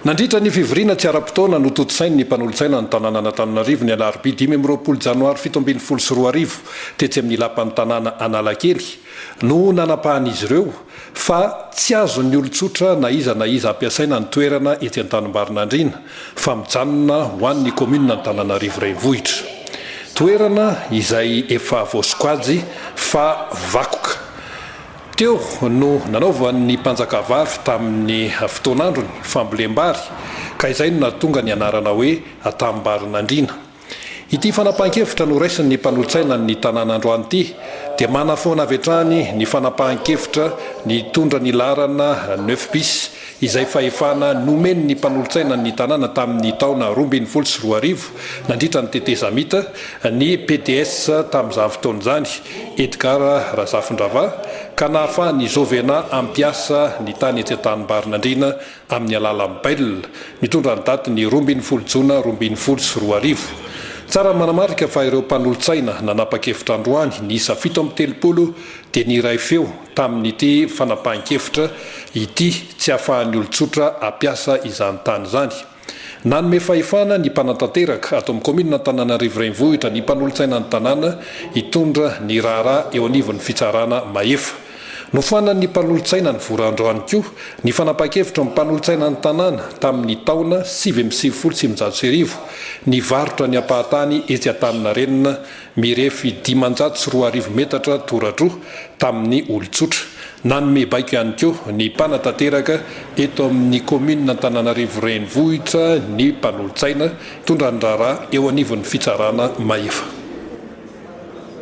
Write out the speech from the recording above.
Nandritra ny fivoriana tsy ara-potoana notontosain' ny mpanolotsaina ny tanànan' Antananarivo ny alarobia dimy amby roapolo janoary fito ambin'ny folo sy roa arivo tetsy amin'ny lapan'ny tanàna Analakely no nanapahan'izy ireo fa tsy azon'ny olon-tsotra na iza na iza ampiasaina ny toerana etsy Antanimbarinandriana fa mijanona ho an'ny kaominina Antananarivo Renivohitra. Toerana izay efa voasokajy fa vakoka. Teo no nanaovan'ny mpanjakavavy tamin'ny fotoan'androny fambolem-bary ka izay no nahatonga ny anarana hoe Tambarinandriana. Ity fanapahan-kevitra noraisin'ny mpanolo-tsaina ny tanàna androany ity dia manafoana avy hatrany ny fanapahan-kevitra nitondra ny laharana neuf bis izay fahefana nomen' ny mpanolotsaina ny tanàna tamin' ny taona roa ambin'ny folo sy roa arivo nandritra ny tetezamita ny PDS tamin' izany fotoana izany, Edgard Razafindrava, ka nahafahan' i Jovena hampiasa ny tany etsy Antanimbarinandriana amin' ny alalan' bail nitondra ny daty ny roa ambin'ny folo jona roa ambin'ny folo sy roa arivo. Tsara ny manamarika fa ireo mpanolotsaina nanapa-kevitra androany niisa fito amby telopolo dia niray feo tamin'ity fanapahan-kevitra ity tsy ahafahan'ny olon-tsotra hampiasa izany tany izany. Nanome fahefana ny mpanatanteraka ato amin'ny kaominina Antananarivo Renivohitra ny mpanolotsainan'ny tanàna hitondra ny raharaha eo anivon'ny fitsarana mahefa. Nofoanan'ny mpanolotsainan'ny Vorandro ihany koa ny fanapahan-kevitry ny mpanolotsainan'ny tanàna tamin'ny taona sivy amby sivifolo sy eninjato sy arivo nivarotra ny ampahan-tany etsy Antaninarenina mirefy dimanjato sy roa arivo metatra toradroa tamin'ny olon-tsotra. Nanome baiko ihany koa ny mpanatanteraka eto amin'ny kaominina Antananarivo Renivohitra ny mpanolotsaina mitondra ny raharaha eo anivon'ny fitsarana mahefa.